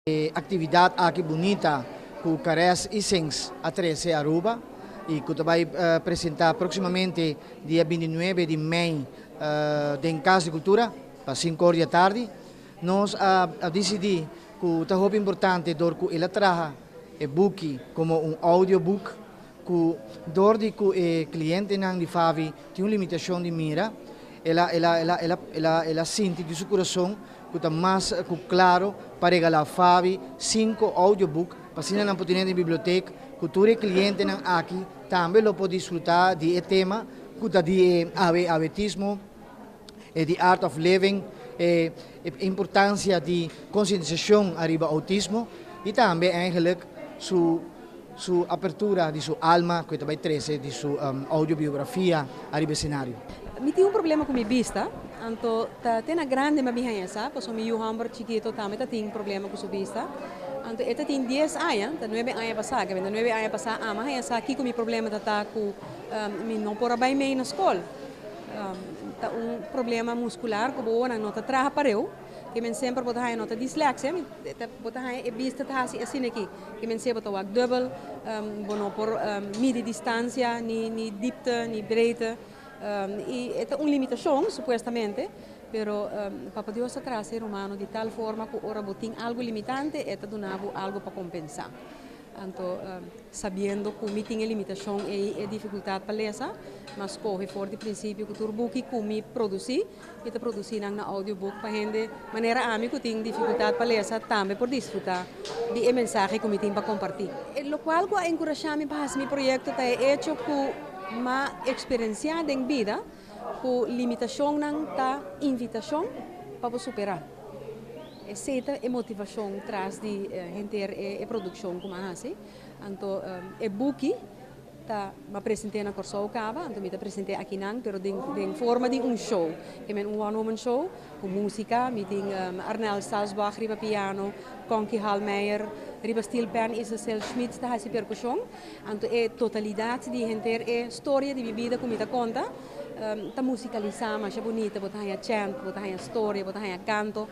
E actividad aki bunita cu Caress y Sings a trece Aruba y cu ta bay presenta proximamente dia binti nuebe di mei den Cas di Cultura pa cinco or di atardi, nos a dicidi cu ta hopi importante door cu el a traha e buki como un audio book cu door di cu e clientenan di Favi tin un limitacion di mira El a el a el a el a el a el a sinti di su kurason ku ta mas ku klaro pa regalá Fabi sinku audioboek pa asina nan por ten'é den bibliotek ku tur e klientenan aki tambe lo por disfrutá di e tema ku ta di e awe awetismo, e di art of living, e e importansia di konsientisashon ariba outismo i tambe eigenlik su. Su apertura di su alma cu e ta bay trece di su audiobiografia ariba escenario. Mi tin un problema cu mi bista, anto ta te na grande ma biha esa, pasobra mi yu homber chikito tambe ta tin problema cu su bista. Anto e ta tin dies aña, ta nuebe aña pasa, kende ta nuebe aña pasa ama haña sa kico mi problema ta ta cu mi no por a bay mey na scol. Ta un problema muscular cu bowonan no ta traha pareu, ke men semper bo ta haña no ta dislexia, bo ta haña e bista ta haci asina aki. E mensea bo ta wak dubbel, bo no por midi distancia ni dipte ni breedte y e ta un limitacion supuestamente, pero Papa Dios ta traza e rumano di tal forma cu ora bo tin algo limitante e ta duna bo algo pa compensa. Anto sabiendo cu mi tin e limitacion ey, e dificultad pa lesa, ma scoge for di principio cu tur buki cu mi produci, i ta produsí nan na audiobook pa hende manera ami ku tin difikultat pa lesa tambe por disfrutá di e mensahe ku mi tin pa kompartí. Lokual ku a enkurashá mi pa hasi mi proyekto ta e echo ku mi a eksperensiá den bida ku limitashonnan ta invitashon pa bo superá. Esei ta e motivashon tras di henter e produkshon ku mi a hasi. Anto e buki. Ta ba present'é na Kòrsou kaba, anto mi ta present'é akinan pero den den forma di un show. E men un one woman show ku músika, mi tin Arnel Salzburg riba piano, Conky Hallmeyer, riba steel pan Isacel Schmitz ta hasi perkushon. Anto e totalidat di henter e storia di mi bida ku mi ta konta ta musikalisá masha bunita, bo ta haña chant, bo ta haña storia, bo ta haña kanto.